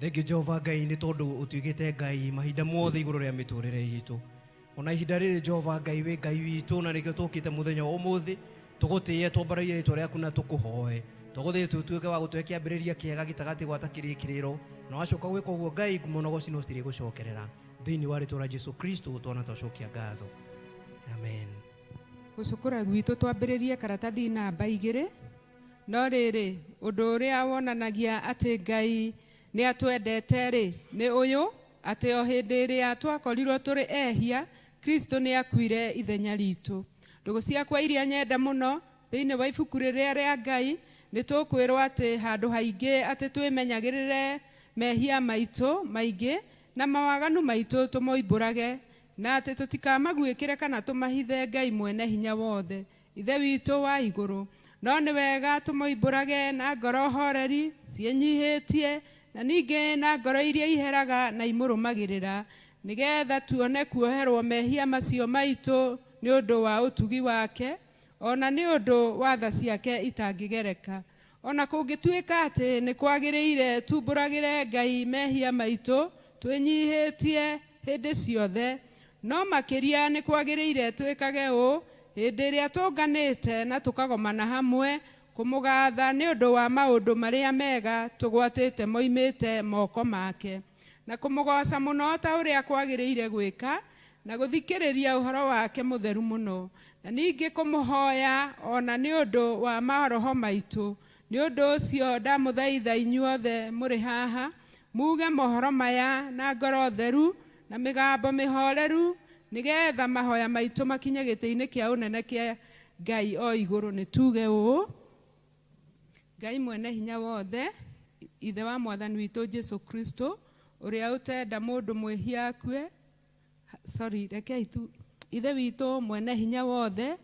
Thengiũ Jehova Ngai nĩ tondũ ũtuĩkĩte Ngai mahinda mothe igũrũ rĩa mĩtũrĩre itũ. Ona ihinda rĩrĩ Jehova Ngai wĩ Ngai witũ na nĩkĩo tũkĩte mũthenya wa ũmũthĩ tũgũtĩe twambararie rĩtwa rĩaku na tũkũhoe. Tũgũthiĩ tũtuĩke wa gũtũhe kĩambĩrĩria kĩega gĩtagati gwata kĩrĩkĩrĩro na wacoka gwĩka ũguo Ngai ngumo na ũgoci no cirĩgũcokerera thĩinĩ wa rĩtwa rĩa Jesu Kristo twana twacokia ngatho. Amen. Gũcũkũra gwitũ twambĩrĩrie karatathi namba igĩrĩ. No rĩrĩ, ũndũ ũrĩa wonanagia atĩ Ngai nĩ atwendete-rĩ, nĩ ũyũ, atĩ o hĩndĩ ĩrĩa twakorirũo tũrĩ ehia, Kristo nĩ aakuire ithenya ritũ. Ndũgũ ciakwa iria nyenda mũno, thĩinĩ wa ibuku rĩrĩa rĩa Ngai, nĩ tũkwĩrũo atĩ handũ haingĩ atĩ twĩmenyagĩrĩre mehia maitũ maingĩ na mawaganu maitũ tũmoimbũrage, na atĩ tũtikamaguĩkĩre kana tũmahithe Ngai Mwene-Hinya-Wothe. Ithe witũ wa igũrũ. No nĩ wega tũmoimbũrage na ngoro horeri, ciĩnyihĩtie, na ningĩ na ngoro iria iheraga na imũrũmagĩrĩra, nĩ getha tuone kuoherũo mehia macio maitũ nĩ ũndũ wa ũtugi wake, o na nĩ ũndũ wa tha ciake itangĩgereka. O na kũngĩtuĩka atĩ nĩ kwagĩrĩire tuumbũragĩre Ngai mehia maitũ twĩnyihĩtie hĩndĩ ciothe, no makĩria nĩ kwagĩrĩire twĩkage ũũ hĩndĩ ĩrĩa tũũnganĩte na tũkagomana hamwe kũmũgaatha nĩ ũndũ wa maũndũ marĩa mega tũgwatĩte moimĩte moko make, na kũmũgooca mũno ta ũrĩa kwagĩrĩire gwĩka na gũthikĩrĩria ũhoro wake mũtheru mũno, na ningĩ kũmũhoya o na nĩ ũndũ wa maroho maitũ. Nĩ ũndũ ũcio ndamũthaitha inyuothe mũrĩ haha, muge mohoro maya na ngoro theru na mĩgambo mĩhoreru, nĩ getha mahoya maitũ makinye gĩtĩ-inĩ kĩa ũnene kĩa Ngai o igũrũ. Nĩ tuge ũũ, Ngai Mwene Hinya Wothe, Ithe wa Mwathani witũ Jesu Kristo, ũrĩa ũtenda mũndũ mwĩhia akue, sorry rekei tu ithe witũ mwene hinya wothe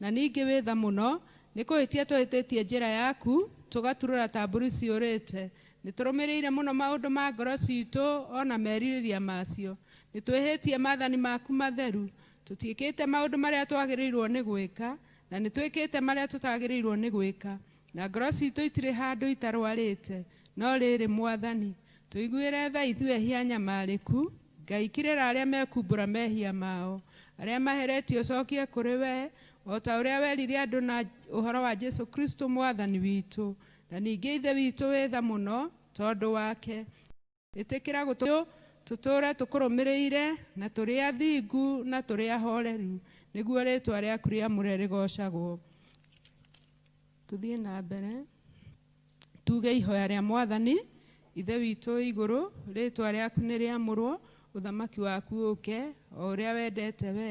na ningĩ wĩ tha mũno nĩ kũhĩtia tũhĩtĩtie njĩra yaku tũgaturũra ta mbũri ciũrĩte nĩ tũrũmĩrĩire mũno maũndũ ma ngoro citũ ona merirĩria macio nĩ twĩhĩtie mathani maku matheru tũtiĩkĩte maũndũ marĩa twagĩrĩirwo nĩ gwĩka na nĩ twĩkĩte marĩa tũtagĩrĩirwo nĩ gwĩka na ngoro citũ itirĩ handũ itarwarĩte no rĩrĩ mwathani Tũiguĩre tha ithuĩ ehia anyamarĩku, Ngai kĩrĩra arĩa mekumbũra mehia mao. Arĩa maheretio cokie kũrĩ we, o ta ũrĩa werire andũ na ũhoro wa Jesu Kristo Mwathani witũ. Na ningĩ Ithe witũ wĩ tha mũno tondũ wake, ĩtĩkĩra gũtũteithia tũtũũre tũkũrũmĩrĩire na tũrĩ athingu na tũrĩ ahooreru, nĩguo rĩĩtwa rĩaku rĩamũre rĩgoocagwo. Tũthiĩ na mbere tuge ihoya rĩa Mwathani. Ithe witũ igũrũ, rĩtwa rĩaku nĩ rĩamũrwo, ũthamaki waku ũke, o ũrĩa wendete we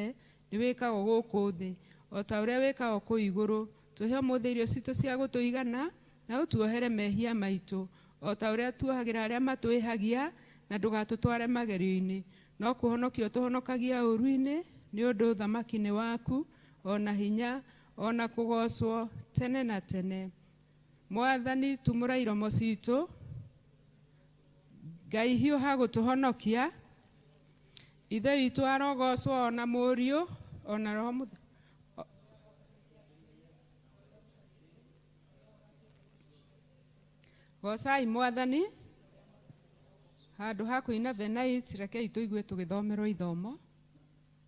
nĩ wĩkagwo gũkũ thĩ o ta ũrĩa wĩkagwo kũu igũrũ. Tũhe ũmũthĩ irio citũ cia gũtũigana, na ũtuohere mehia maitũ o ta ũrĩa tuohagĩra arĩa matwĩhagia, na ndũgatũtware magerio-inĩ, no kũhonokia ũtũhonokagia ũũru-inĩ, nĩ ũndũ ũthamaki nĩ waku, o na hinya, O na kũgoocwo tene na tene. Mwathani tumũra iromo citũ. Ngai hiũha gũtũhonokia. Ithe witũ arogoocwo o na Mũriũ o na Roho Mũtheru. Goocai Mwathani. Handũ ha kũina Venait, rekei tũigue tũgĩthomerwo ithomo.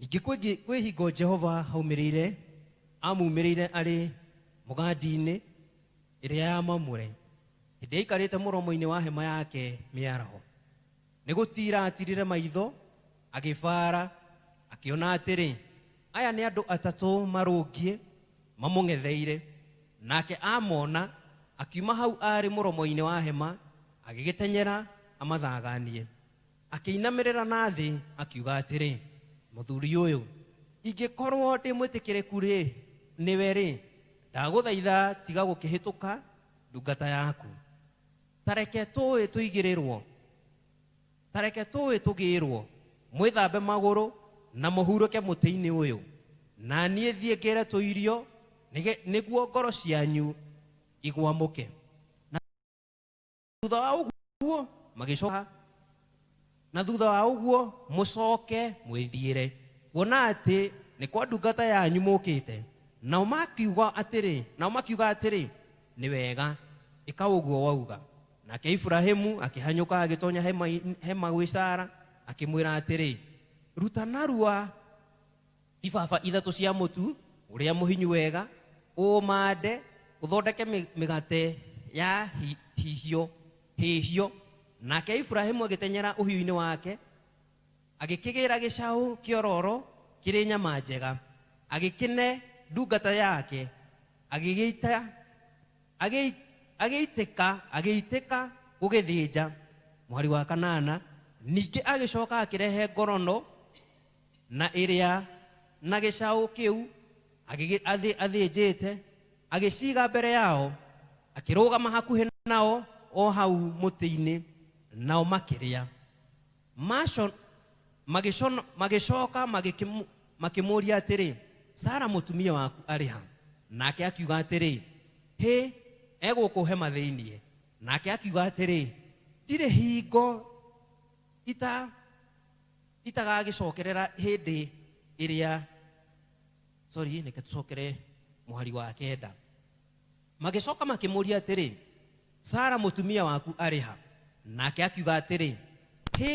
Ningĩ kwĩngĩ- kwĩ hingo Jehova aumĩrĩire, amuumĩrĩire arĩ mũgandi-inĩ ĩrĩa ya mamure, hĩndĩ aikarĩte mũromo-inĩ wa hema yake mĩaraho. Nĩ gũtiira aatirire maitho, agĩbaara, akĩona atĩrĩ, aya nĩ andũ atatũ marũngiĩ mamũng'etheire. Nake amona, akiuma hau aarĩ mũromo-inĩ wa hema, agĩgĩtenyera amathaganie. Akĩinamĩrĩra na thĩ, akiuga atĩrĩ, Mũthuri ũyũ, ingĩkorwo ndĩ mwĩtĩkĩrĩku-rĩ, nĩwe-rĩ, ndagũthaitha tiga gũkĩhĩtũka ndungata yaku. Ta reke tũũĩ tũigĩrĩrwo, ta reke tũũĩ tũgĩĩrwo, mwĩthambe magũrũ na mũhurũke mũtĩ-inĩ ũyũ, na niĩ thiĩ ngĩre tũirio, nĩge, nĩguo ngoro cianyu igwamũke. thutha wa ũguo magĩcoka na thutha wa ũguo mũcoke mwĩthiĩre kuona atĩ nĩ kwa ndungata yanyu mũkĩte nao makiuga atĩrĩ nao makiuga atĩrĩ nĩ wega ĩka ũguo wauga nake iburahimu akĩhanyũka agĩtonya hema, hema gwĩ sara akĩmwĩra atĩrĩ ruta narua Ibaba ithatũ cia mũtu ũrĩa mũhinyu wega, ũũmande ũthondeke mĩgate ya hihio hĩhio. Nake Iburahĩmu agĩtenyera ũhiũinĩ wake, agĩkĩgĩĩra gĩcaũ kĩororo kĩrĩ nyama njega, agĩkĩne ndungata yake, agĩgĩita agĩita agĩitĩka agĩitĩka gũgĩthĩnja mwarĩ wa Kanana. Ningĩ agĩcooka akĩrehe ngorono. na ĩrĩa na gĩcaũ kĩu agĩgĩ- athĩ- athĩnjĩte agĩciiga mbere yao akĩrũgama hakuhĩ nao o hau mũtĩ-inĩ nao makĩrĩa Maco- magĩcono- magĩcoka magĩkĩmũ- makĩmũũria atĩrĩ sara mũtumia waku arĩ ha nake akiuga atĩrĩ hĩ egũkũ hema thĩinĩ nake akiuga atĩrĩ ndirĩ hingo ita itagagĩcokerera hĩndĩ ĩrĩa sorry reke tũcokere mũhari wa kenda magĩcoka makĩmũria atĩrĩ sara mũtumia waku arĩ ha nake akiuga atĩrĩ hĩ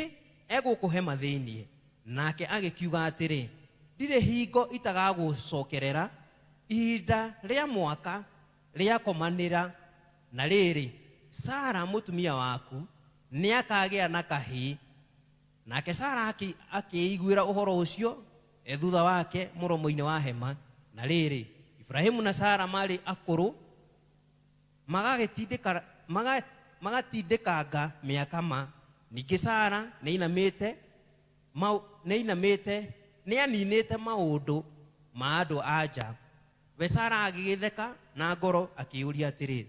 egũkũhe mathĩiniĩ nake agĩkiuga atĩrĩ ndirĩ hingo itagagũcokerera ihinda rĩa mwaka rĩakomanĩra na rĩrĩ sara mũtumia waku nĩakagĩa na kahĩĩ Nake Sara akĩĩiguĩra ũhoro ũcio e thutha wake mũromo-inĩ wa hema. Na rĩrĩ, Iburahimu na Sara marĩ akũrũ, magatindĩkanga mĩaka ma. Ningĩ Sara nĩainamĩte, nĩaniinĩte maũndũ ma andũ-a-nja. We Sara agĩgĩtheka na ngoro akĩĩyũria atĩrĩ,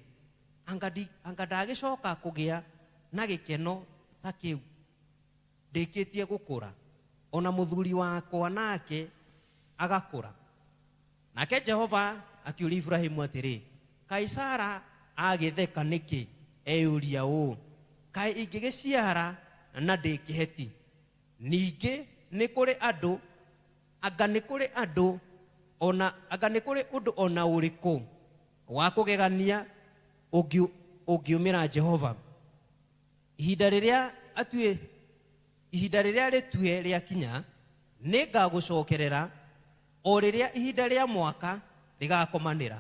Anga ndi- anga ndagĩcoka kũgĩa na gĩkeno ta kĩu ndĩkĩtie gũkũra, o na mũthuri wakwa nake agakũra? Nake Jehova akĩũria Iburahimu atĩrĩ, Kaĩ Sara agĩtheka nĩkĩ eyũria ũũ, 'Kaĩ ingĩgĩciara na ndĩ kĩheti? Ningĩ nĩ kũrĩ andũ Anga nĩ kũrĩ andũ o na, anga nĩ kũrĩ ũndũ o na ũrĩkũ wa kũgegania ũngĩ, ũngiumĩra Jehova? Ihinda rĩrĩa atue, ihinda rĩrĩa rĩtue rĩakinya, nĩ ngagũcokerera, o rĩrĩa ihinda rĩa mwaka rĩgakomanĩra,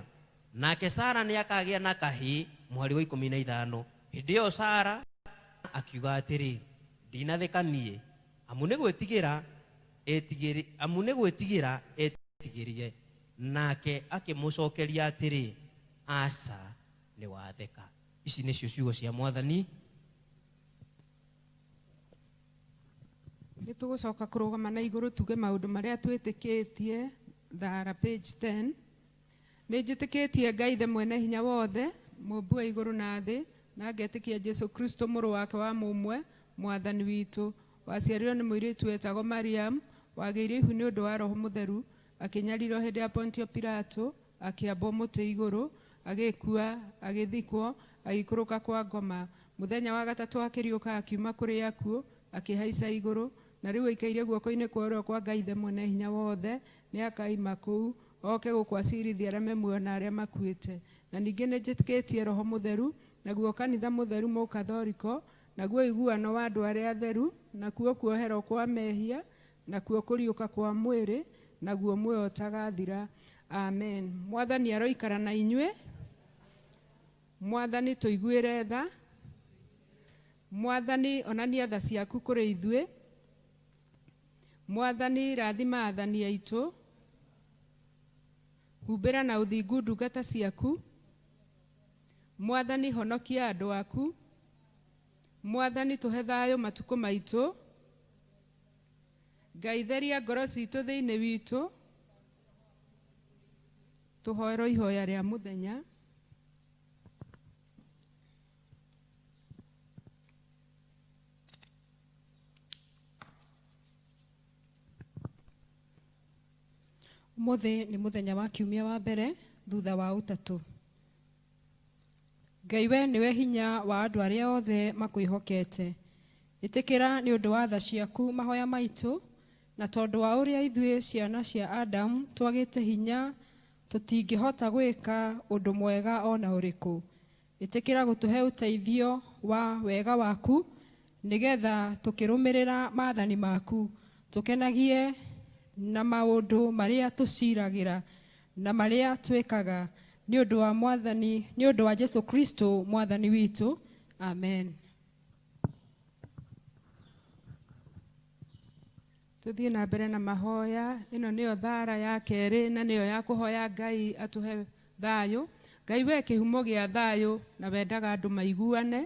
nake Sara nĩ akagĩa na kahĩĩ, mũhari wa ikũmi na ithano. Hĩndĩ ĩyo Sara akiuga atĩrĩ, Ndinatheka niĩ, amu nĩ gwĩtigĩra. Etigĩri, amu nĩ gwĩtigĩra eetigĩrire. Nake akĩmũcookeria atĩrĩ, Aca, nĩ watheka. Ici nĩcio ciugo cia Mwathani. Nĩ tũgũcoka kũrũgama na igũrũ tuge maũndũ marĩa twĩtĩkĩtie, thaara, page ten. Nĩ njĩtĩkĩtie Ngai Ithe Mwene-Hinya-Wothe, Mũũmbi wa igũrũ na thĩ, na ngetĩkia Jesu Kristo, Mũrũ wake wa mũmwe, Mwathani witũ, waciarirwo nĩ mũirĩtu wetagwo Mariamu, wagĩire ihu nĩ ũndũ wa Roho Mũtheru, akĩnyarirwo hĩndĩ ya Pontio Pilato, akĩambwo mũtĩ igũrũ, agĩkua, agĩthikwo, agĩikũrũka kwa ngoma, mũthenya wa gatatũ akĩriũka akiuma kũrĩ akuũ, akĩhaica igũrũ, na rĩu aikaire guoko-inĩ kwa ũrĩo kwa Ngai Ithe Mwene-Hinya-Wothe, Nĩakaima kũu, oke gũkũ aciirithie arĩa memuoyo na arĩa makuĩte. Na ningĩ nĩnjĩtĩkĩtie Roho Mũtheru, naguo kanitha mũtheru Mũkathoriko, naguo ũiguano wa andũ arĩa atheru, nakuo kuoherwo kwa mehia, nakuo kũriũka kwa mwĩrĩ, naguo muoyo ũtagathira. Amen. Mwathani aroikara na inyuĩ. Mwathani tũiguĩre tha. Mwathani onania tha ciaku kũrĩ ithuĩ. Mwathani, raathima aathani aitũ, humbĩra na ũthingu ndungata ciaku, Mwathani, honokia andũ aku, Mwathani, tũhe thayũ matukũ maitũ, Ngai, theria ngoro ciitũ thĩinĩ witũ, tũhoerwo ihoya rĩa mũthenya. Ũmũthĩ nĩ mũthenya wa kiumia wa mbere thutha wa ũtatũ. Ngai we nĩwe hinya wa andũ arĩa othe makwĩhokete. Ĩtĩkĩra nĩ ũndũ wa tha ciaku mahoya maitũ, na tondũ wa ũrĩa ithuĩ ciana cia Adamu twagĩte hinya tũtingĩhota gwĩka ũndũ mwega o na ũrĩkũ. Ĩtĩkĩra gũtũhe ũteithio wa wega waku nĩgetha tũkĩrũmĩrĩra maathani maku, tũkenagie na maũndũ marĩa tũciragĩra na marĩa twĩkaga, nĩ ũndũ wa Mwathani, nĩ ũndũ wa Jesu Kristo Mwathani witũ. Amen. Tũthiĩ na mbere na mahoya. Ĩno nĩyo thaara ya kerĩ na nĩyo ya kũhoya Ngai atũhe thayũ. Ngai we kĩhumo gĩa thayũ na wendaga andũ maiguane.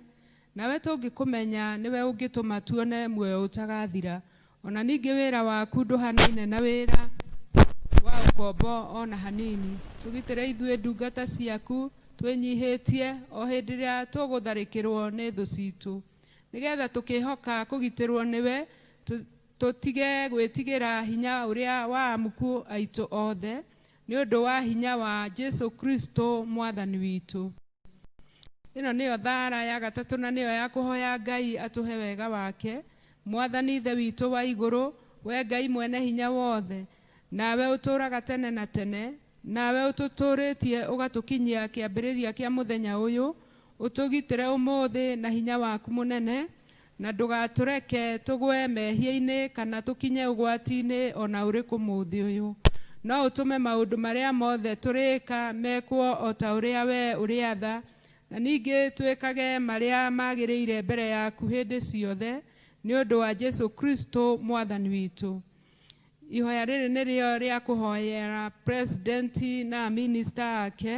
Nawe tũngĩkũmenya nĩwe ũngĩtũma tuone muoyo ũtagathira. Ona ningĩ wĩra waku ndũhanaine na wĩra wa ũkombo ona hanini. Tũgitĩre ithuĩ ndungata ciaku twĩnyihĩtie o hĩndĩ ĩrĩa tũgũtharĩkĩrwo nĩ thũ citũ. Nĩgetha tũkĩhoka kũgitĩrwo nĩwe Tũtige gwĩtigĩra hinya ũrĩa wa amũku aitũ othe, nĩ ũndũ wa hinya wa Jesu Kristo Mwathani witũ. Ĩno nĩyo thaara ya gatatũ na nĩyo ya kũhoya Ngai atũhe wega wake, Mwathani Ithe witũ wa igũrũ, wee Ngai Mwene Hinya Wothe, nawe ũtũũraga tene na tene, nawe ũtũtũũrĩtie ũgatũkinyia kĩambĩrĩria kĩa mũthenya ũyũ, ũtũgitĩre ũmũthĩ na hinya waku mũnene, Na ndũgatũreke tũgwe mehia-inĩ kana tũkinye ũgwati-inĩ o na ũrĩkũ ũmũthĩ ũyũ, no ũtũme maũndũ marĩa mothe tũrĩĩka mekwo o ta ũrĩa wee ũrĩatha, na ningĩ twĩkage marĩa magĩrĩire mbere yaku hĩndĩ ciothe, nĩ ũndũ wa Jesu Kristo Mwathani witũ. Ihoya rĩrĩ nĩrĩo rĩa kũhoyera President na Minister ake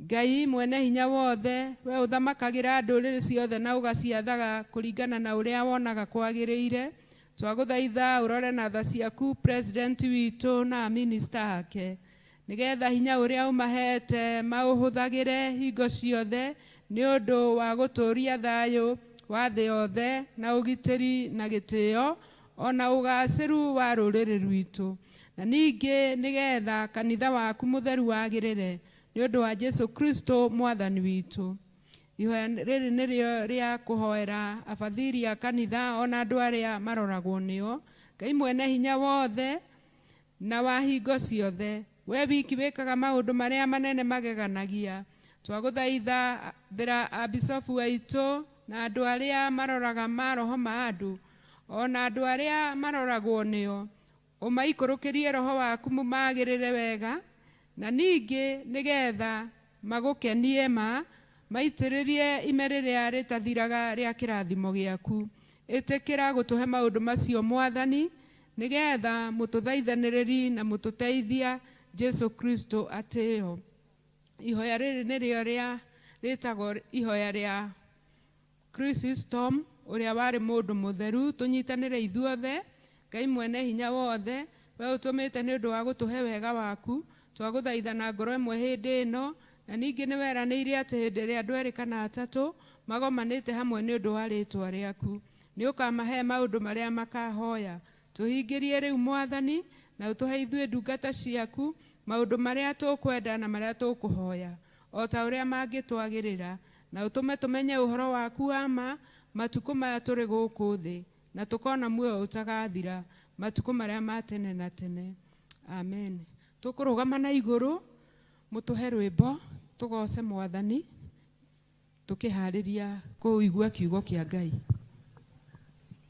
Ngai Mwene-Hinya-Wothe, wee ũthamakagĩra ndũrĩrĩ ciothe na ũgaciathaga kũringana na ũrĩa wonaga kwagĩrĩire, twagũthaitha ũrore na tha ciaku President witũ na a Minister ake, nĩgetha hinya ũrĩa ũmahete maũhũthagĩre hingo ciothe nĩ ũndũ wa gũtũũria thayũ wa thĩ yothe na ũgitĩri na gĩtĩo o na ũgacĩru wa rũrĩrĩ rwitũ, na ningĩ nĩgetha kanitha waku mũtheru wagĩrĩre. Nĩ ũndũ wa Jesu Kristo Mwathani witũ. Ihoya rĩrĩ nĩrĩo rĩa kũhoera abathiri a kanitha o na andũ arĩa maroragwo nĩo. Ngai mwene hinya wothe na wa hingo ciothe, wee wiki wĩkaga maũndũ marĩa manene mageganagia, twagũthaithagĩra Abisobu aitũ na andũ arĩa maroraga maroho ma andũ, o na andũ arĩa maroragwo nĩo, Ũmaikũrũkĩrie roho waku mũmagĩrĩre wega, na ningĩ nĩ getha magũkenie ma maitĩrĩrie ime rĩrĩa rĩtathiraga rĩa kĩrathimo gĩaku. Ĩtĩkĩra gũtũhe maũndũ macio Mwathani, nĩ getha mũtũthaithanĩrĩri na mũtũteithia Jesu Kristo atĩo. Ihoya rĩrĩ nĩrĩo rĩa rĩtagwo ihoya rĩa. Chrysostom, ũrĩa warĩ mũndũ mũtheru, tũnyitanĩre ithuothe, Ngai Mwene Hinya Wothe, Wee ũtũmĩte nĩ ũndũ wa gũtũhe wega waku, twagũthaitha na ngoro ĩmwe hĩndĩ ĩno, na ningĩ nĩ weranĩire atĩ hĩndĩ ĩrĩa andũ erĩ kana atatũ magomanĩte hamwe nĩ ũndũ wa rĩĩtwa rĩaku, nĩ ũkamahe maũndũ marĩa makahoya. Tũhingĩrie rĩu, Mwathani, na ũtũhe ithuĩ ndungata ciaku maũndũ marĩa tũkwenda na marĩa tũkũhoya, o ta ũrĩa mangĩtwagĩrĩra. Na ũtũme tũmenye ũhoro waku wa ma matukũ maya tũrĩ gũkũ thĩ, na tũkona muoyo ũtagathira matukũ marĩa ma tene na tene. Ameni. Tũkũrũgama na igũrũ, mũtũhe rwĩmbo tũgooce Mwathani tũkĩhaarĩria kũigua Kiugo kĩa Ngai.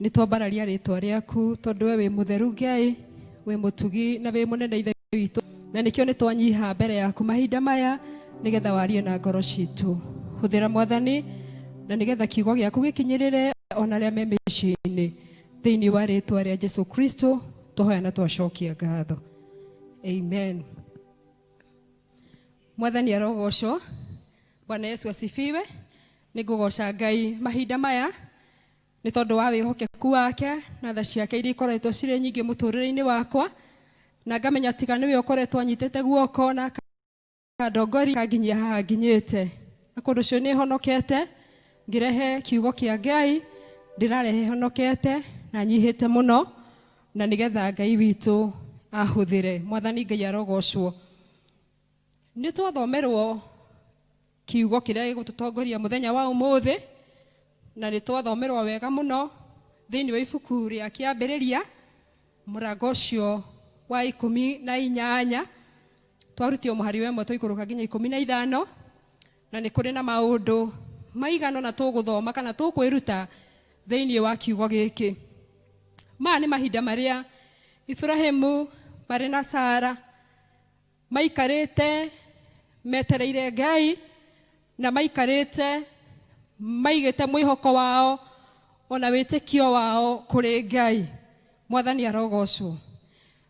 Nĩ twambararia rĩtwa rĩaku tondũ we wĩ mũtheru Ngai, wĩ mũtugi na wĩ mũnene ithe witũ, na nĩkĩo nĩ twanyiha mbere yaku mahinda maya nĩgetha warie na ngoro citũ. Hũthĩra mwathani na nĩgetha kiugo gĩaku gĩkinyĩrĩre ona arĩa me mĩciĩ-inĩ thĩinĩ wa rĩtwa rĩa Jesu Kristo twahoya na twacokia ngatho. Amen. Mwathani arogocwo. Bwana Yesu asifiwe. Nĩ ngũgoca Ngai mahinda maya Nĩ tondũ wa wĩhokeku wake na tha ciake iria ikoretwo cirĩ nyingĩ mũtũrĩre-inĩ wakwa, na ngamenya tiga nĩwe ũkoretwo anyitĩte guoko na akandongoria akanginyia haha nginyĩte. Na kũndũ ũcio nĩ honokete ngĩrehe kiugo kĩa Ngai, ndĩrarehe honokete na nyihĩte mũno, na nĩgetha Ngai witũ ahũthĩre. Mwathani Ngai arogocwo. Nĩ twathomerwo Kiugo kĩrĩa gĩgũtũtongoria mũthenya wa ũmũthĩ na nĩ twathomerwo wega mũno thĩinĩ wa ibuku rĩa kĩambĩrĩria mũrango ũcio wa ikũmi na inyanya twarutio mũhari wa ĩmwe tũikũrũka nginya ikũmi na ithano na nĩ kũrĩ na maũndũ maigana na tũgũthoma kana tũkwĩruta thĩinĩ wa kiugo gĩkĩ maya nĩ mahinda marĩa Iburahĩmu marĩ na Sara Maikarĩte metereire Ngai, na maikarĩte maigĩte mwĩhoko wao ona wĩtĩkio wao kũrĩ Ngai. Mwathani arogocwo.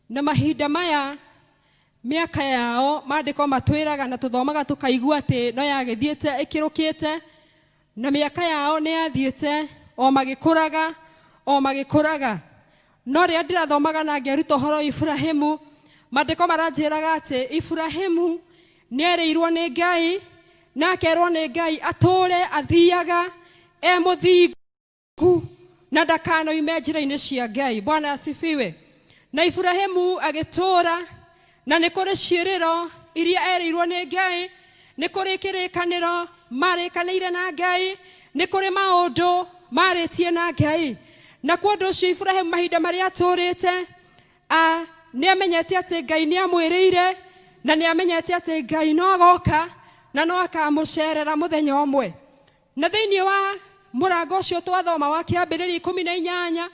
Na mahinda maya mĩaka yao, maandĩko matwĩraga na tũthomaga tũkaigua atĩ no yagĩthiĩte ĩkĩrũkĩte, Na mĩaka yao nĩ yathiĩte o magĩkũraga, o magĩkũraga. No rĩrĩa ndĩrathomaga na ngeruta ũhoro wa Iburahĩmu, mandĩko maranjĩraga atĩ Iburahĩmu nĩ erĩirwo nĩ Ngai, na akerwo nĩ Ngai atũũre athiaga e mũthingu. ku na ndakanoime njĩra-inĩ cia ngai bwana asifiwe na iburahimu agĩtũũra na nĩ kũrĩ ciĩrĩro iria erĩirwo nĩ ngai nĩ kũrĩ kĩrĩkanĩro marĩkanĩire na ngai nĩ kũrĩ maũndũ marĩtie na ngai na kwa ũndũ ũcio iburahimu mahinda marĩa atũũrĩte a nĩ amenyete atĩ ngai nĩ amwĩrĩire na nĩ amenyete atĩ ngai no agoka na no akamũcerera mũthenya ũmwe Na thĩinĩ wa mũrango ũcio twathoma wa kĩambĩrĩria ikũmi na inyanya,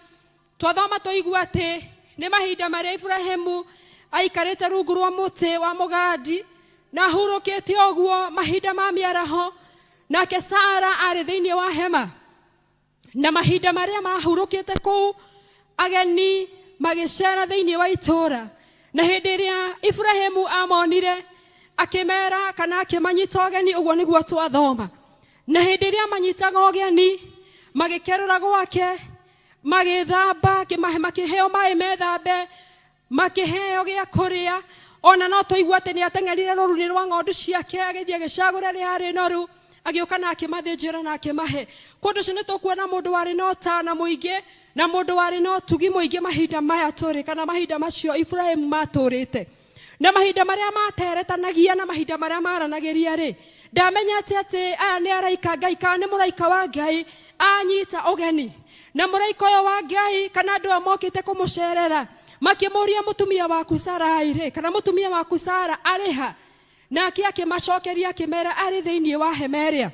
twathoma tũigua atĩ nĩ mahinda marĩa Iburahĩmu aikarĩte rungu rwa mũtĩ wa mũgandi na ahurũkĩte ũguo mahinda ma mĩaraho, nake Sara arĩ thĩinĩ wa hema. Na mahinda marĩa mahurũkĩte kũu, Ageni magĩceera thĩinĩ wa itũũra, na hĩndĩ ĩrĩa Iburahĩmu aamonire, akĩmeera, kana akĩmanyita ũgeni, ũguo nĩguo twathoma. Na hĩndĩ ĩrĩa manyitaga ũgeni, magĩkerũra gwake, magĩĩthamba, akĩmahe- makĩheo maĩ methambe, makĩheo gĩa kũrĩa ona no tũigua atĩ nĩ ateng'erire rũrunĩ rwa ng'ondu ciake agĩthiĩ agĩcagũra rĩa arĩ noru agĩũka na akĩmathĩnjĩra na akĩmahe kũndũ ũcio nĩ tũkuona mũndũ warĩ na ũtana mũingĩ na mũndũ warĩ na ũtugi mũingĩ mahinda maya tũrĩ kana mahinda macio iburahimu matũrĩte na mahinda marĩa materetanagia na mahinda marĩa maranagĩria rĩ ndamenyete atĩ aya nĩ araika ngai kana nĩ mũraika wa ngai anyita ũgeni na mũraika ũyũ wa ngai kana andũ aya mokĩte kũmũcerera makĩmũria mũtumia waku sarai rĩ kana mũtumia waku sara arĩ ha nake akĩmacokeria akĩmera arĩ thĩinĩ wa hema ĩrĩa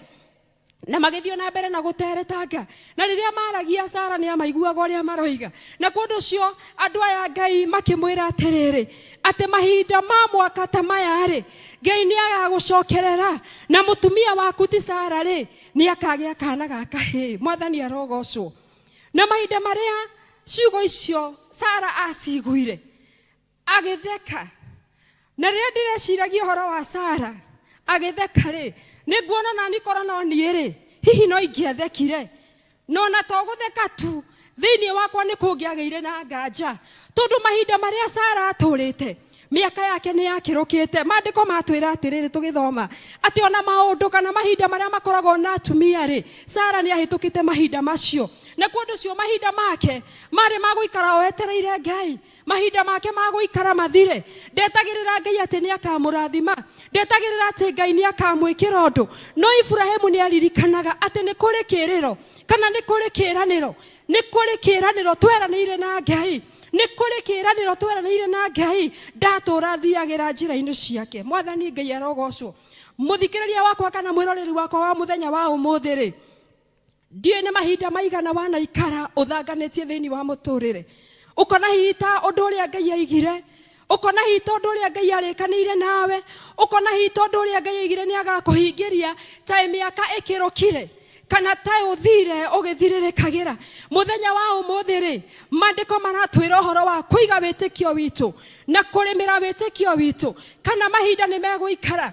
na magĩthiĩ na mbere na gũteretanga na rĩrĩa maragia sara nĩ amaiguaga ũrĩa maroiga na kũndũ ũcio andũ aya ngai makĩmwĩra atĩrĩrĩ atĩ mahinda ma mwaka ta maya rĩ ngai nĩ agagũcokerera na mũtumia waku ti sara rĩ nĩ akagĩa kana ga kahĩĩ mwathani arogocwo na mahinda marĩa ciugo icio sara aciguire agĩtheka na rĩrĩa ndĩreciragia ũhoro wa sara agĩtheka rĩ nĩ nguona nani korwo no niĩ rĩ hihi no ingĩathekire na ona to gũtheka tu thĩinĩ wakwa nĩ kũngĩagĩire na nganja tondũ mahinda marĩa sara atũrĩte mĩaka yake nĩ yakĩrũkĩte maandĩko matwĩra atĩrĩrĩ tũgĩthoma atĩ ona maũndũ kana mahinda marĩa makoragwo na atumia rĩ sara nĩ ahĩtũkĩte mahinda macio na kũndũ cio mahinda make marĩ magũikara o etereire ngai Mahinda make ma gũikara mathire. Ndetagĩrĩra Ngai atĩ nĩ akaamũrathima. Ndetagĩrĩra atĩ Ngai nĩ akaamwĩkĩra ũndũ. No Iburahimu nĩ aaririkanaga atĩ nĩ kũrĩ kĩĩrĩro, kana nĩ kũrĩ kĩĩranĩro. Nĩ kũrĩ kĩĩranĩro tweranĩire na Ngai. Nĩ kũrĩ kĩĩranĩro tweranĩire na Ngai. Ndatũũra thiagĩra njĩra-inĩ ciake. Mwathani Ngai arogoocwo! Mũthikĩrĩria wakwa kana mwĩroreri wakwa wa mũthenya wa ũmũthĩ-rĩ, Ndiũĩ nĩ mahinda maigana wanaikara ũthanganĩtie thĩinĩ wa mũtũrĩre. Ũkona hihi ta ũndũ ũrĩa Ngai aigire, ũkona hihi ta ũndũ ũrĩa Ngai arĩkanĩire nawe, ũkona hihi ta ũndũ ũrĩa Ngai aigire nĩ agakũhingĩria, ta mĩaka ĩkĩrũkire kana ta ũthire ũgĩthirĩrĩkagĩra. Mũthenya wa ũmũthĩ rĩ, maandĩko maratwĩra ũhoro wa kũiga wĩtĩkio witũ na kũrĩmĩra wĩtĩkio witũ, kana mahinda nĩ megũikara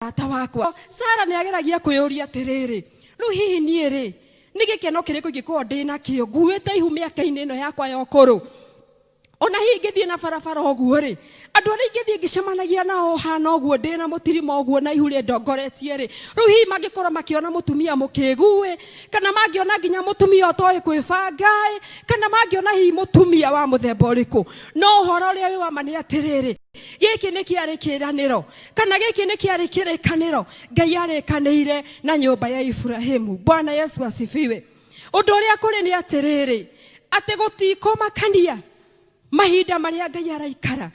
mũrata wakwa sara nĩ ageragia kwĩyũria atĩrĩrĩ rĩu hihi niĩ rĩ nĩ gĩkeno kĩrĩkũ ingĩkorwo ndĩ nakĩo nguĩte ihu mĩaka-inĩ ĩno yakwa ya ũkũrũ ona hihi ingĩthiĩ na barabara ũguo rĩ andũ arĩa ingĩthiĩ ngĩcemanagia nao hana ũguo ndĩ na mũtirima ũguo na ihu rĩndongoretie rĩ rĩu hihi mangĩkorwo makĩona mũtumia mũkĩgu ĩ kana mangĩona nginya mũtumia ũtoĩ kwĩbanga ĩ kana mangĩona hihi mũtumia wa mũthemba ũrĩkũ no ũhoro ũrĩa wĩ wama nĩ atĩrĩrĩ Gĩkĩ nĩ kĩarĩ kĩĩranĩro, kana gĩkĩ nĩ kĩarĩ kĩrĩkanĩro Ngai arĩkanĩire na nyũmba ya Iburahimu. Bwana Yesu asifiwe. Ũndũ ũrĩa kũrĩ nĩ atĩrĩrĩ, atĩ gũtikũmakania mahinda marĩa Ngai araikara.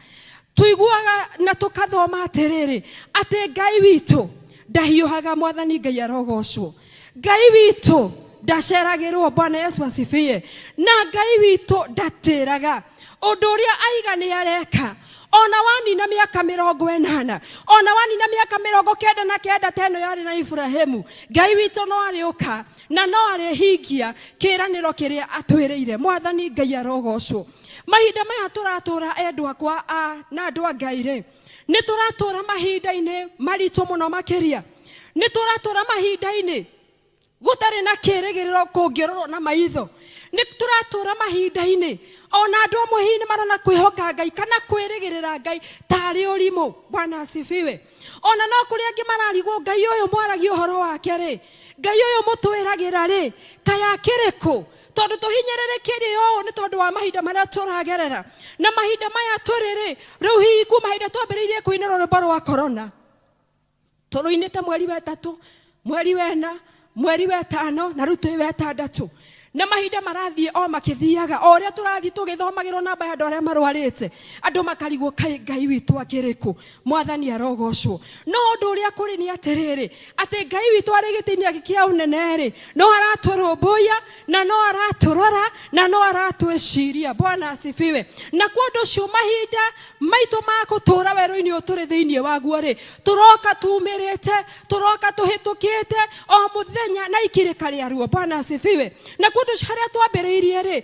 Tuiguaga na tũkathoma atĩrĩrĩ, atĩ Ngai witũ ndahiũhaga mwathani ngai arogocwo ngai witũ ndaceragĩrwo bwana yesu asifiye na ngai witũ ndatĩraga ũndũ ũrĩa aiga nĩ areka ona wanina mĩaka mĩrongo ĩnana ona wanina mĩaka mĩrongo kenda na kenda ta ĩno yarĩ na iburahĩmu ngai witũ no arĩũka na no arĩhingia kĩĩranĩro kĩrĩa atwĩrĩire mwathani ngai arogocwo mahinda maya tũratũra endwa kwa a na andũ a ngai rĩ nĩ tũratũra mahinda-inĩ maritũ mũno makĩria nĩ tũratũra mahinda-inĩ gũtarĩ na kĩrĩgĩrĩro kũngĩrorwo na maitho nĩ tũratũra mahinda-inĩ ona andũ amwe hihi nĩ marona kwĩhoka ngai kana kwĩrĩgĩrĩra ngai tarĩ ũrimũ bwana asifiwe ona no kũrĩ angĩ mararigwo ngai ũyũ mwaragia ũhoro wake rĩ ngai ũyũ mũtwĩragĩra rĩ kaĩ akĩrĩ kũ tondũ tũhinyĩrĩrĩkĩirio ũũ nĩ tondũ wa mahinda marĩa tũragerera na mahinda maya tũrĩ rĩ rĩu hihi kuma hĩndĩ twambĩrĩirie kũinĩra rwĩmbo rwa korona tũrũinĩte mweri wetatũ mweri wena mweri wetano na rĩu twĩ wetandatũ na mahinda marathiĩ o makĩthiaga o ũrĩa tũrathiĩ tũgĩthomagĩrwo namba ya andũ arĩa marwarĩte andũ makarigwo kaĩ ngai witũ akĩrĩkũ mwathani arogocwo no ũndũ ũrĩa kũrĩ nĩ atĩrĩrĩ atĩ ngai witũ arĩ gĩtĩ-inĩ gĩake kĩa ũnene-rĩ no aratũrũmbũiya na no aratũrora na no aratwĩciria bwana asifiwe na kwa ũndũ ũcio mahinda maitũ ma gũtũũra werũ-inĩ ũyũ tũrĩ thĩinĩ waguo-rĩ tũroka tumĩrĩte tũroka tũhĩtũkĩte o mũthenya na ikirĩka rĩaruo bwana asifiwe na kwa ũndũ ũcio harĩa twambĩrĩirie-rĩ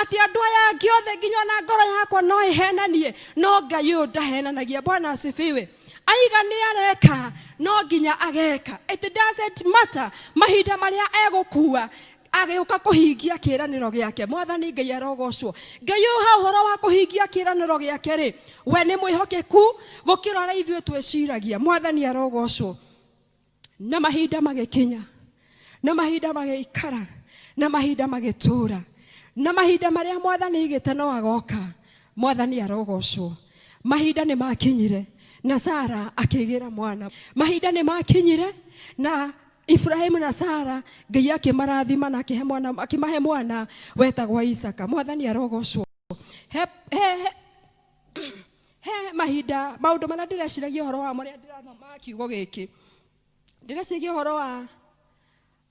atĩ andũ aya angĩ othe nginya ona ngoro yakwa no ĩhenanie no ngai ũyũ ndahenanagia bwana asifiwe aiga nĩ areka no nginya ageka it doesn't matter mahinda marĩa egũkua agĩũka kũhingia kĩranĩro gĩake mwathani ngai arogocwo ngai ũyũ ha ũhoro wa kũhingia kĩranĩro gĩake rĩ we nĩ mwĩhokeku gũkĩra ũrĩa ithuĩ twĩciragia mwathani arogocwo na mahinda magĩkinya na mahinda magĩikara na mahinda magĩtũũra na mahinda marĩa mwathani igĩte no agoka mwathani arogocwo mahinda nĩ makinyire na sara akĩgĩra mwana mahinda nĩ makinyire na Ibrahim na Sara Ngai akĩmarathima na akĩhe mwana akĩmahe mwana wetagwa Isaka mwathani arogocwo he, he, he, he mahinda maundu maria ndireciragia horo wa maria ndirathoma kiugo giki ndireciragia horo wa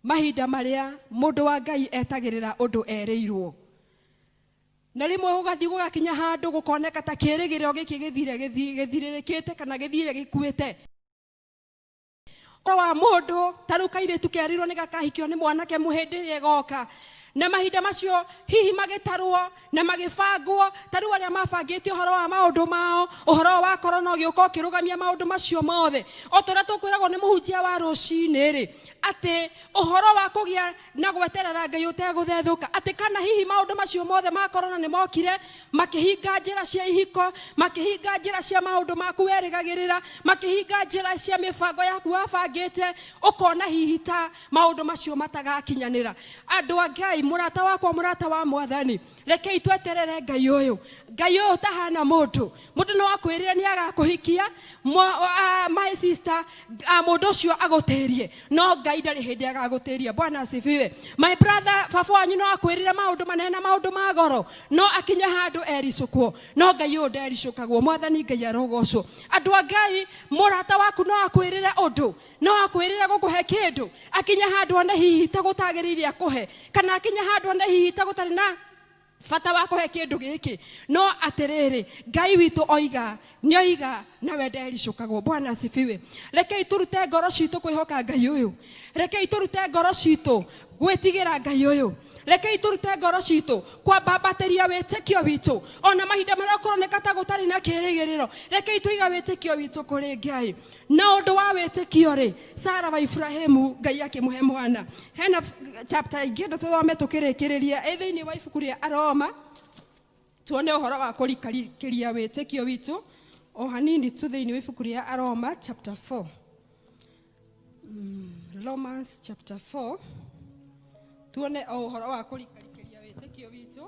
mahinda maria mundu wa ngai etagirira undu erirwo na rimwe gugathi gugakinya handu gukoneka ta kirigiriro giki githire githiririkite kana githire gikuite ũhoro wa mũndũ ta rĩu kairĩtu kerirwo nĩ gakahikio nĩ mwanake mũhĩndĩ ĩrĩa ĩgoka na mahinda macio hihi magĩtarwo na magĩbangwo ta rĩu arĩa mabangĩte ũhoro wa maũndũ mao ũhoro wa korona ũgĩũka ũkĩrũgamia maũndũ macio mothe o ta ũrĩa tũkwĩragwo nĩ mũhunjia wa rũcinĩ rĩ atĩ ũhoro wa kũgĩa na gweterera Ngai ũtegũthethũka, atĩ kana hihi maũndũ macio mothe ma korona nĩ mokire makĩhinga njĩra cia ihiko, makĩhinga njĩra cia maũndũ maku werĩgagĩrĩra, makĩhinga njĩra cia mĩbango yaku wabangĩte, ũkona hihi ta maũndũ macio matagakinyanĩra. Andũ a Ngai, mũrata wakwa, mũrata wa Mwathani, rekei tweterere ngai ũyũ ngai ũyũ ũtahana mũndũ mũndũ no akwĩrĩre nĩ agakũhikia mwa- ah, my sister ah, mũndũ ũcio agũtĩrie no ngai ndarĩ hĩndĩ agagũtĩria bwana asifiwe my brother baba wanyu no akwĩrĩre maũndũ manene na maũndũ ma goro no akinye handũ ericũkwo no ngai ũyũ ndericũkagwo mwathani ngai arogocwo andũ a ngai mũrata waku no akwĩrĩre ũndũ no akwĩrĩre gũkũhe kĩndũ akinye handũ one hihi ta gũtagĩrĩire akũhe kana akinye handũ one hihi ta gũtarĩ na bata wa kũhe kĩndũ gĩkĩ no atĩrĩrĩ ngai witũ oiga nĩ oiga nawe ndericũkagwo bwana asifiwe rekei tũrute ngoro citũ kwĩhoka ngai ũyũ rekei tũrute ngoro citũ gwĩtigĩra ngai ũyũ rekei tũrute ngoro citũ kwambambatĩria wĩtĩkio witũ ona mahinda marĩa kũroneka ta gũtarĩ na kĩrĩgĩrĩro rekei tũiga wĩtĩkio witũ kũrĩ ngai Na ũndũ wa wĩtĩkio-rĩ, Sara wa Iburahimu, Ngai akĩmũhe mwana. Hena chapter ingĩenda tũthome tũkĩrĩkĩrĩria ĩ thĩinĩ wa ibuku rĩa Aroma, tuone ũhoro wa kũrikĩria wĩtĩkio witũ o hanini tu thĩinĩ wa ibuku rĩa Aroma chapter 4. Mm, Romans chapter 4 tuone o ũhoro wa kũrikĩria wĩtĩkio witũ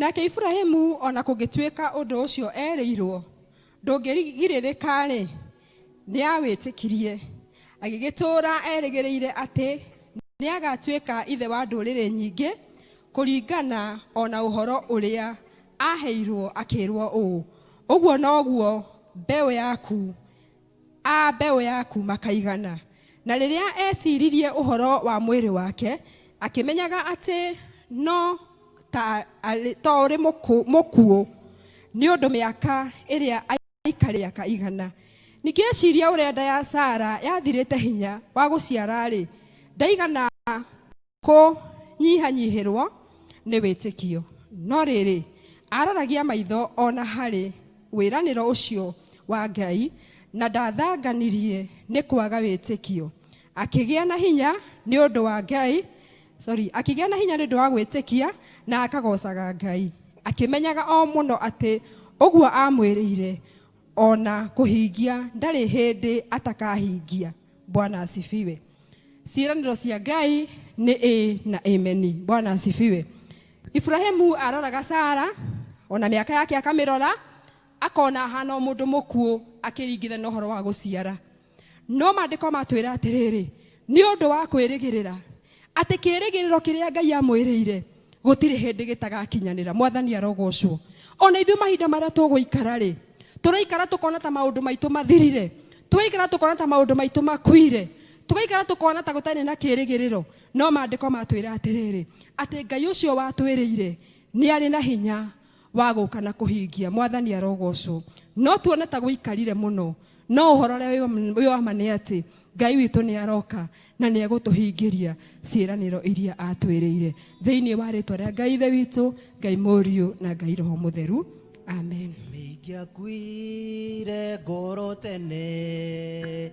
Nake Iburahimu, o na kũngĩtuĩka ũndũ ũcio eerĩirwo ndũngĩgirĩrĩka-rĩ, nĩawĩtĩkirie, agĩgĩtũũra erĩgĩrĩire atĩ nĩagatuĩka ithe wa ndũrĩrĩ nyingĩ, kũringana o na ũhoro ũrĩa aaheirwo akĩĩrwo ũũ, Ũguo noguo mbeũ yaku A mbeũ ya kuuma Kaigana. Na rĩrĩa eeciririe ũhoro wa mwĩrĩ wake, akĩmenyaga atĩ no ta arĩ to ũrĩ mũkũ- mũkuũ nĩ ũndũ mĩaka ĩrĩa aikarĩa Kaigana. Ningĩ eciria ũrĩa nda ya Sara yathirĩte hinya wa gũciara-rĩ, ndaigana kũnyihanyihĩrwo nĩ wĩtĩkio. No rĩrĩ, aararagia maitho o na harĩ wĩranĩro ũcio wa Ngai na ndathanganirie nĩ kwaga wĩtĩkio. Akĩgĩa na hinya nĩ ũndũ wa Ngai, sorry, akĩgĩa na hinya nĩ ũndũ wa gwĩtĩkia na akagocaga Ngai, akĩmenyaga o mũno atĩ ũguo aamwĩrĩire ona kũhingia ndarĩ hĩndĩ atakahingia bwana asifiwe ciĩranĩro cia ngai nĩ ĩ na ĩmeni bwana asifiwe iburahimu aroraga sara ona mĩaka yake akamĩrora akona ahana o mũndũ mũkuũ akĩringitha na ũhoro wa gũciara no maandĩko matwĩra atĩrĩrĩ nĩ ũndũ wa kwĩrĩgĩrĩra atĩ kĩĩrĩgĩrĩro kĩrĩa ngai amwĩrĩire gũtirĩ hĩndĩ gĩtagakinyanĩra mwathani arogocwo ona ithuĩ mahinda marĩa tũgũikara rĩ tũraikara tũkona ta maũndũ maitũ mathirire tũgaikara tũkona ta maũndũ maitũ makuire tũgaikara tũkona ta gũtarĩ na kĩĩrĩgĩrĩro no maandĩko matwĩra atĩrĩrĩ atĩ ngai ũcio watwĩrĩire nĩ arĩ na hinya wa gũka na kũhingia. Mwathani arogocwo. No tuone ta gũikarire mũno, no ũhoro ũrĩa wĩ wa ma nĩ atĩ Ngai witũ nĩ aroka na nĩ egũtũhingĩria ciĩranĩro iria atwĩrĩire. Thĩinĩ wa rĩtwa rĩa Ngai Ithe witũ, Ngai Mũriũ na Ngai Roho Mũtheru. Amen. Mĩingĩakuire ngoro tene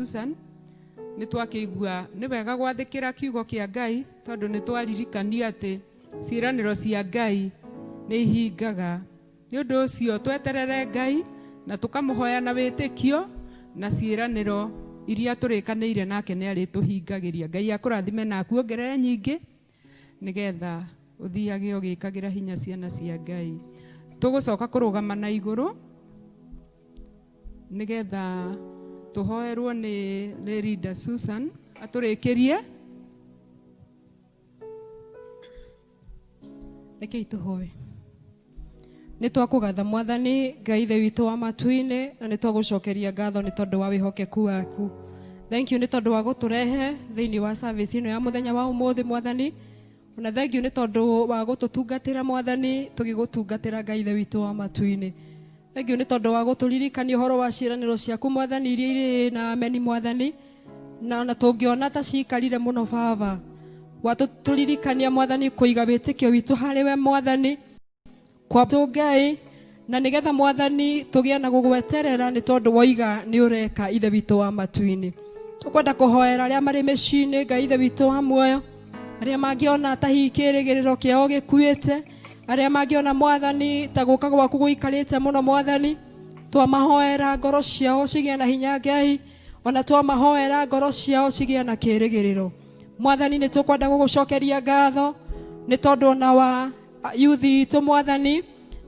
Susan nĩ twakĩigua nĩ wega gwathĩkĩra kiugo kĩa Ngai tondũ nĩ twaririkanio atĩ ciĩranĩro cia Ngai nĩ ihingaga. Nĩ ũndũ ũcio tweterere Ngai na tũkamũhoya na wĩtĩkio na ciĩranĩro iria tũrĩkanĩire nake nĩ arĩtũhingagĩria. Ngai akũrathime na akuongerere nyingĩ. nĩgetha ũthiage ũgĩkagĩra hinya ciana cia ngai tũgũcoka kũrũgama na igũrũ nĩgetha tũhoerwo nĩ nĩ Linda Susan atũrĩkĩrie rekei tũhoe Nĩ twakũgatha Mwathani Ngai Ithe witũ wa matu-inĩ na nĩ twagũcokeria ngatho nĩ tondũ wa wĩhokeku waku. Thank you nĩ tondũ wa gũtũrehe thĩinĩ wa service ĩno ya mũthenya wa ũmũthĩ Mwathani. Ona thank you nĩ tondũ wa gũtũtungatĩra Mwathani tũgĩgũtungatĩra Ngai Ithe witũ wa matu-inĩ. Thengiũ nĩ tondũ wa gũtũririkania ũhoro wa ciĩranĩro ciaku mwathani iria irĩ ĩĩ na ameni mwathani na ona tũngĩona ta ciikarire mũno baba watũtũririkania mwathani kũiga wĩtĩkio witũ harĩ we mwathani kwatũ ngai na nĩgetha mwathani tũgĩe na gũgweterera nĩ tondũ woiga nĩ ũreka ithe witũ wa matu-inĩ tũkwenda kũhoera arĩa marĩ mĩciĩ-inĩ ngai ithe witũ wa muoyo arĩa mangĩona ta hihi kĩrĩgĩrĩro kĩao gĩkuĩte arĩa mangĩona mwathani ta gũka gwaku gũikarĩte mũno mwathani twamahoera ngoro ciao cigĩa na hinya ngai ona twamahoera ngoro ciao cigĩa na kĩrĩgĩrĩro mwathani nĩ tũkwenda gũgũcokeria ngatho nĩ tondũ ona wa yuthi itũ mwathani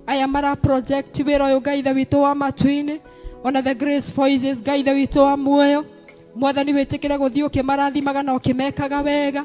aya mara project wĩra ũyũ ngai ithe witũ wa matu-inĩ ona the grace voices ngai ithe witũ wa muoyo mwathani wĩtĩkĩre gũthiĩ ũkĩmarathimaga na ũkĩmekaga wega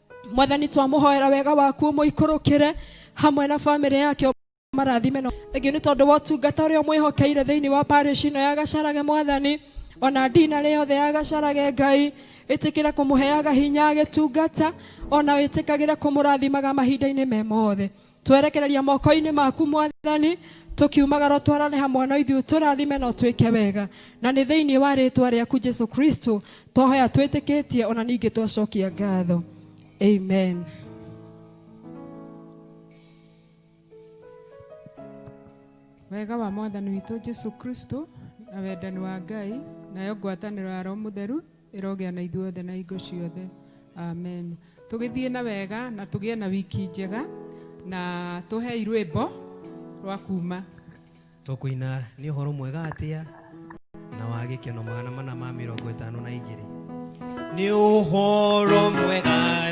mwathani twamũhoera wega waku ũmũikũrũkĩre hamwe na bamĩrĩ yake marathime no ĩngĩ nĩ tondũ wa ũtungata ũrĩa ũmwĩhokeire thĩinĩ wa parish ĩno ya gacarage mwathani ona ndina rĩ yothe ya gacarage ngai ĩtĩkĩre kũmũheaga hinya agĩtungata ona wĩtĩkagĩre kũmũrathimaga mahinda-inĩ me mothe twerekereria moko-inĩ maku mwathani tũkiumagara twarane hamwe na ithuĩ tũrathime na ũtwĩke wega na nĩ thĩinĩ wa rĩtwa rĩaku jesu kristo twahoya twĩtĩkĩtie ona ningĩ twacokia ngatho amen wega wa mwathani witũ jesu kristo na wendani wa ngai nayo ngwatanĩro ya roho mũtheru ĩrogĩa na ithuothe na hingo ciothe amen tũgĩthiĩ na wega na tũgĩe na wiki njega na tũhei rwĩmbo rwa kuma tũkũina nĩ ũhoro mwega atĩa na wa gĩkeno magana mana ma mĩrongo ĩtano na igĩrĩ nĩ ũhoro mwega